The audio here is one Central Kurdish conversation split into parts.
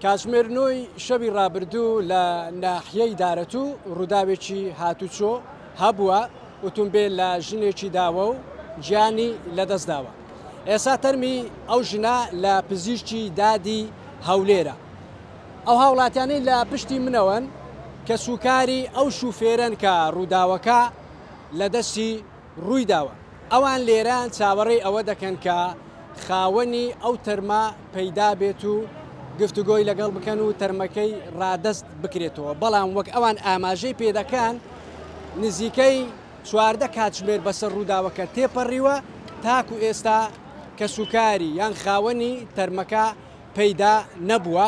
کاتژمێر نۆی شەوی ڕابردوو لە ناحیەی دارەتوو ڕووداوێکی هاتوچۆ هەبووە، ئوتومبێل لە ژنێکی داوە و گیانی لەدەستداوە، ئێستا تەرمی ئەو ژنە لە پزیشکی دادی هەولێرە. ئەو هاوڵاتیانەی لە پشتی منەوەن کەسوکاری ئەو شوفێرەن کە ڕووداوەکە لەدەستی روویداوە، ئەوان لێرە چاوەڕێی ئەوە دەکەن کە خاوەنی ئەو تەرمە پەیدا بێت و گفتوگۆی لەگەڵ بکەن و تەرمەکەی رادەست بکرێتەوە، بەڵام وەک ئەوان ئاماژەی پێدەکەن نزیکەی چواردە کاتژمێر بەسەر رووداوەکە تێپەڕیوە تاکو ئێستا کەسوکاری یان خاوەنی تەرمەکە پەیدا نەبووە.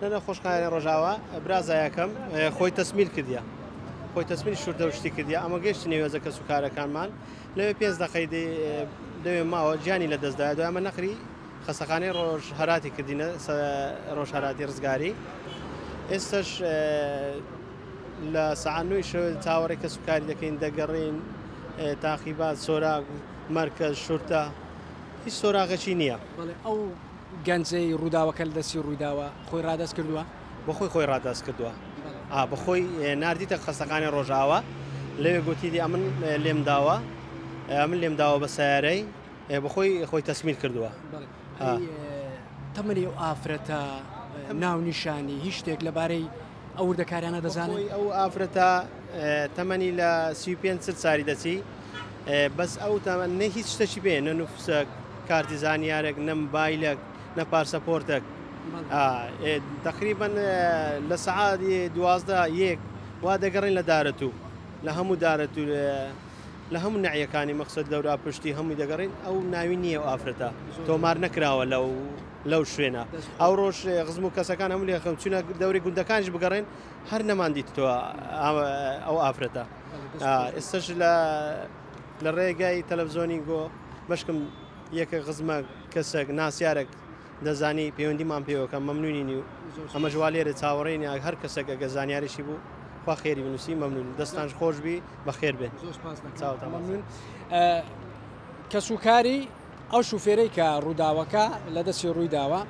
نە نە خۆش قایەنە ڕۆژاوا برا زایەکەم خۆی تەسمیل کردە خۆی تەسمیل شوردە و شتی کردە ئەمە گەشت نێوێزە کەس و کارەکانمان لەوێ پێنج دەقەی دەوێ ماوە گیانی لە دەستدا دوای ئەمە نەخری خەسەخانەی ڕۆژ هەراتی کردینە ڕۆژ هەراتی ڕزگاری ئێستش لە سەعانوی شەوێ چاوەڕێ کەس و کاری دەکەین دەگەڕین تاقیبات سۆراغ مرکز شورتە هیچ سۆراغەچی نییە ئەو گەنجی ڕووداوەکە لە دەستی ڕوویداوە خۆی ڕادەست کردووە. بە خۆی خۆی ڕادەست کردووە. ئا بە خۆی ناردیتە خەستەخانەی ڕۆژئاوا. لەوێ گۆتیتی ئەمن لێم داوە. ئەمن لێم داوە بە سەیارەی. ئێ بە خۆی خۆی تەسمیر کردووە. ئەی تەمەنی ئەو ئافرەتە، ناونیشانی، هیچ شتێک لەبارەی. ئەو وردەکاریانە دەزانن. بەخۆی ئەو ئافرەتە تەمەنی لە سی و پێنج چل ساری دەچی بەس ئەو تەمەن نە هیچ شتەکی پێ نە نوفسە کارتی زانیارێک نە مبایلەک نە پارسەپۆرتەک تقریبا لە سەعاتی دوازدە یەک وا دەگەڕین لە دارەت و لە هەموو دارەت و لە هەموو نەعیەکانی مەخسەد لەورا پشتی هەمووی دەگەڕین ئەو ناوی نییە و ئافرەتە تۆمار نەکراوە لەو لەو شوێنە ئەوڕۆژ غزم و کەسەکان هەموو لێ خەم چونە دەوری گوندەکانش بگەڕێن هەر نەمان دیتەوە ئەو ئافرەتە ئێستش لە لە ڕێگای تەلەڤزۆنی گۆ مشکم یەکە غزمە کەسێک ناسیارێک دەزانی پەیوەندیمان پێوەکە مەمنونی نیو ئەمە ژوا لێرە چاوەڕێن یا هەر کەسێک ئەگە زانیاریشی بوو خوا خێری بنووسی مەمنون دەستان خۆشببی بەخێر بێت چاوتان کەسوکاری ئەو شوفێرەی کە ڕووداوەکە لە دەستی ڕوویداوە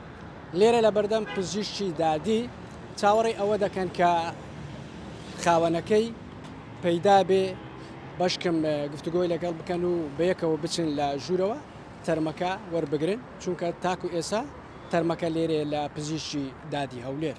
لێرە لە بەردەم پزیشکی دادی چاوەڕێی ئەوە دەکەن کە خاوەنەکەی پەیدا بێ بەشکم گفتوگۆی لەگەڵ بکەن و بەیەکەوە بچن لە ژوورەوە تەرمەکە وەربگرن چونکە تاکو ئێسا تەرمەکە لێرێ لە پزیشکی دادی هەولێر.